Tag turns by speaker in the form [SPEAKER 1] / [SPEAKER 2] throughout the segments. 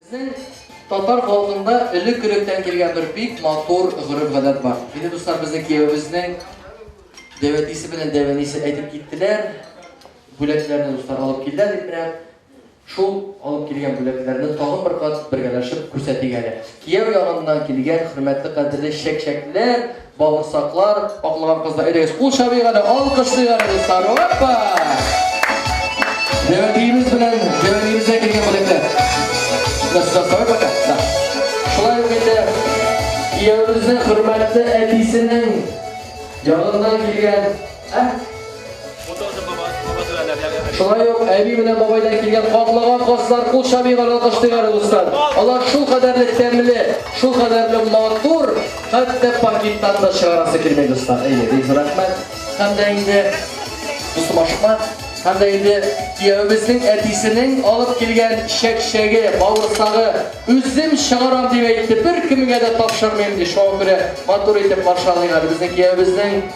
[SPEAKER 1] Безнең татар халкында элек электән килгән бер бик матур гореф-гадәт бар. Мине дуслар безнең киявебезнең дәвәтисе белән дәвәнисе әйтеп киттеләр. Бүләкләрне дуслар алып килдәр дип менә шул алып килгән бүләкләрне тагын бер кат бергәләшеп күрсәтик әле. Кияү ягыннан килгән хөрмәтле кадерле чәк-чәкләр Бавырсаклар, аклаган кызлар, әйдәгез, кул чабыйк әле, алкышлыйк әле, дуслар, опа! Җәвәдиебез белән, җәвәдиебездә килгән бүләкләр. Нәрсә сорай бака? Да. Шулай ук инде, кияүебезнең хөрмәтле әтисенең ягыннан килгән Шулай ук әби белән бабайдан килгән катлыган каслар кул чабыйган алкыштыйлар дуслар. Алар шул кадәрле тәмле, шул кадәрле матур, хәтта пакеттан да чыгарасы килмәй дуслар. Әйе, бик зур рәхмәт. Һәм дә инде дустым ашыкма. Һәм дә инде кияүебезнең әтисенең алып килгән чәкчәге, бавырсагы үзем чыгарам дип әйтте. Бер кемгә дә тапшырмыйм ди. Шуңа күрә матур итеп каршылыйлар безнең кияүебезнең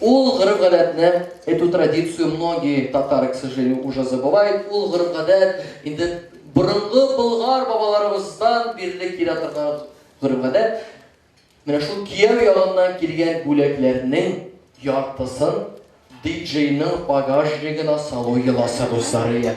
[SPEAKER 1] Ул гореф-гадәтне, эту традицию многие татары, к сожалению, уже забывают, ул гореф-гадәт инде борынгы болгар бабаларыбыздан бирле килә торган гореф-гадәт. Менә шул кияү ягыннан килгән бүләкләрнең яртысын диджейның багажнигына салу йоласы русалия.